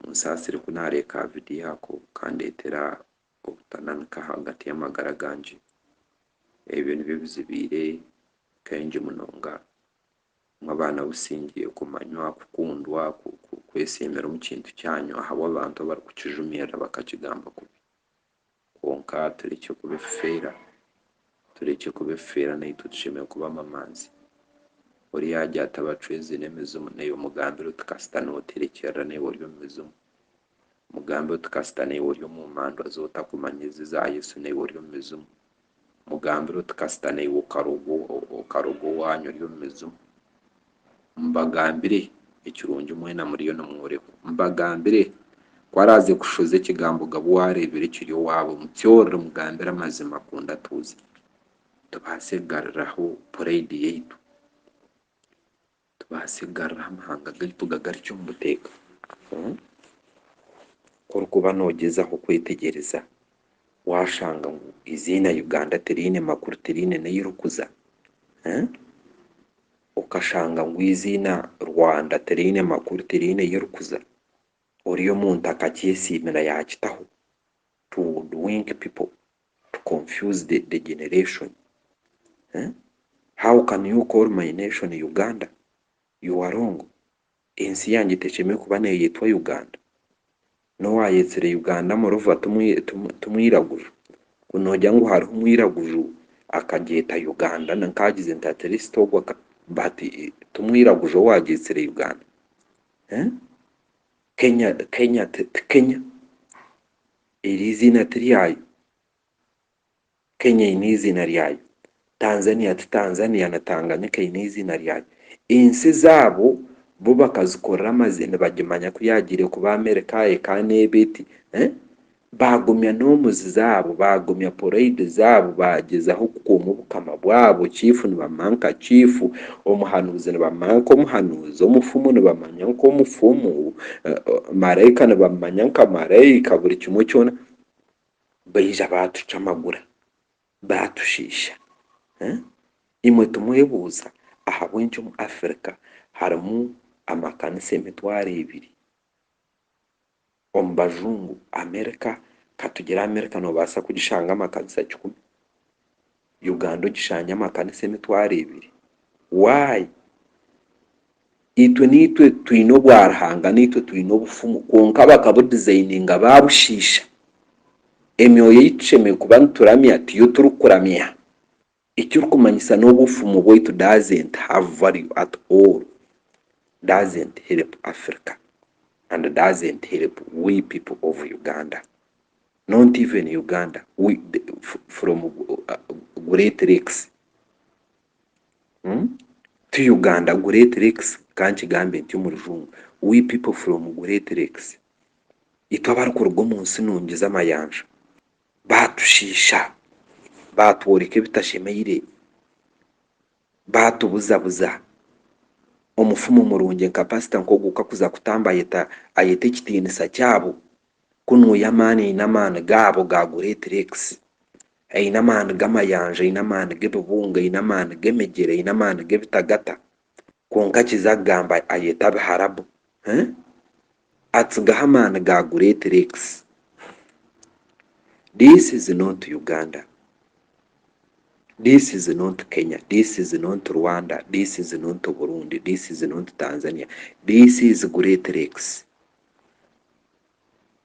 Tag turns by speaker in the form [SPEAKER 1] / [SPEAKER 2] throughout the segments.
[SPEAKER 1] Onsaasire ku naareeka aha vidiyo ako kandeetera obutananika ahagati y'amagara gangye. Ebyo nibyo bizibaire kaingi munonga. Mwabana Busingye kumanywa, kukundwa, kwesiimira omu kintu kyanyu ahabw'abantu abarikukijumirira bakakigamba kubi. Kwonka turekye kuba ebifeera. Turekye kuba ebifeera naitwe tushemereire kuba amamanzi. Ori yagya ati abacwezi n'emizimu naiwe omugambire oti kasita niwe oterekyerera naiwe ori omu mizimu. Omugambire oti kasita naiwe ori omu mandwa z'otakumanya ezi za Yesu naiwe ori omu mizimu. Mugambire oti kasita naiwe okaruga owaanyu ori omu mizimu. Mbagambire, ekirungi mwena muriyo nimworekwa. Mbagambire, ku araaze kushoza ekigambo gabwe waareebera ekiri owaabo, mutyorere mugambire amazima kundi atuuze, tubaase kugaruraho purayidi yaitu. tubaase kugaruraho amahanga gaitu gagarukye omu buteeka. Ku orikuba noogyezaho kwetegyereza, waashanga ngu eiziina Uganda tiriine makuru, tiriine n'ahu ririkuza. Okashanga ngu eiziina Rwanda tiriine makuru, tiriine ahu ririkuza. Oriya omuntu akakyesiimira yaakitaho. To hoodwink people. to confuse the the generation eh how can you call my nation Uganda you are wrong ensi yangye tekyemereire kuba neyetwa Uganda nowayetsire Uganda moreover timwiraguju ku nogira ngu hariho omwiraguju akagyeta Uganda ninka agize nti at least ogwo aka but timwiraguju owagyetsire Uganda eh Kenya Kenya ti Kenya. Eri eiziina ti ryayo. Kenya eine eiziina ryayo. Tanzania ti Tanzania na Tanganyika eine eiziina ryayo. Ensi zaabo bo bakazikorera amaziina nibagimanya ku yaagiire kuba Amerika eka n'eba eti eeh. Baagumya norms zaabo, baagumya parade zaabo, baagyezaho kukuuma obukama bwabo, chief nibamumanya nka chief. Omuhanuuzi nibamumanya nk'omuhanuuzi, omufumu nibamumanya nk'omufumu, maraika nibamumanya nka maraika, buri kimwe kyona. Baija baatucwa amagura, baatushiisha. Imwe timwebuuza ahabw'enki omu Africa harimu amakanisa emitwaro ebiri? Omu bajungu, Amerika, katugire Amerika nobaasa kugishangamu akanisa kikumi, Uganda ogishange amakanisa emitwaro ebiri. Why? Itwe naitwe twine obwa Ruhanga, naitwe twine obufumu kwonka bakabudizayininga babushiisha. Emyoyo ei tushemereire kuba nituramya tiyo turikuramya. Ekirikumanyisa n'obu obufumu bwaitu doesn't have value at all, doesn't help Africa and doesn't help we people of Uganda. Not even Uganda we from great lakes ti Uganda great lakes ka nkigambe ntyo omu rujungu we people from great lakes itwe abarikuruga omu nsi nungi z'amayanja. baatushiisha, baatworeka ebitashemeire, baatubuzabuza, omufumu murungi nka pasita nk'ogu ku arikuza kutamba ayeta ayeta ekitiinisa kyabo ku niwe ey'amaani aine amaani gaabo ga Great Lakes, aine amaani g'amayanja, aine amaani g'ebibunga, aine amaani g'emigyera, aine amaani g'ebitagata. kwonka akiza kugamba ayeta biharabu eeh atsigaho amaani ga great lakes this is not Uganda this is not Kenya this is not Rwanda this is not Burundi this is not Tanzania this is great lakes.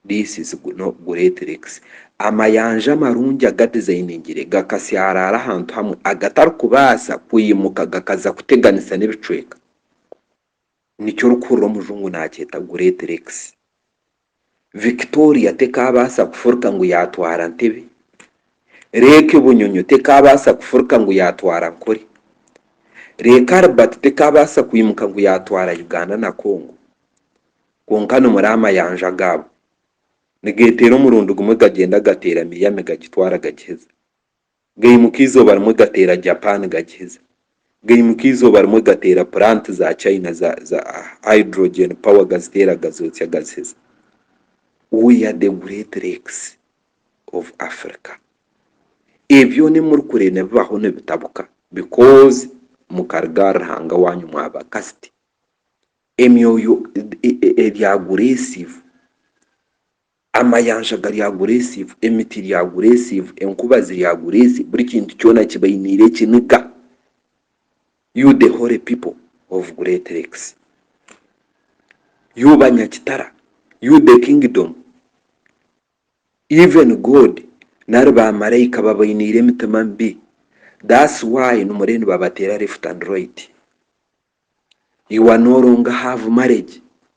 [SPEAKER 1] This is no great lakes. Amayanja marungi agadizayiningire gakasyaraara ahantu hamwe agatarikubaasa kwimuka gakaza kuteganisa n'ebicweka. Nikyo orikuhurira omujungu naakyeta great lakes. Victoria tekaabaasa kufurika ngu yaatwara Ntebe. Lake Bunyonyo tekaabaasa kufurika ngu yaatwara Ankole. Lake Albert tekaabaasa kwimuka ngu yaatwara Uganda na Congo. Kwonka nimura amayanja gaabo nigeteera omurundi gumwe gagyenda gateera Miami gagitwara gagiheza, gaimuka eizooba rimwe gateera Japan gagiheza, gaimuka eizooba rimwe gateera plant za China za za hydrogen power gaziteera gazotsya gaziheza. We are the great lakes of Africa. Ebi byona ebi muri kureeba nibibaho nibitabuka because mukaruga aha Ruhanga waanyu mwaba kasiti Emyoyo eri aguresiivu, amayanja gari aguresiivu, emiti eri aguresiivu, enkuba ziri aguresiivu, buri kintu kyona kibainiire ekiniga. You the holy people of Great Lakes, you banyakitara, you the kingdom. Even God nari ba maraika babainiire emitima mibi that's why nimuree nibabateera left and right. You are no longer have marriage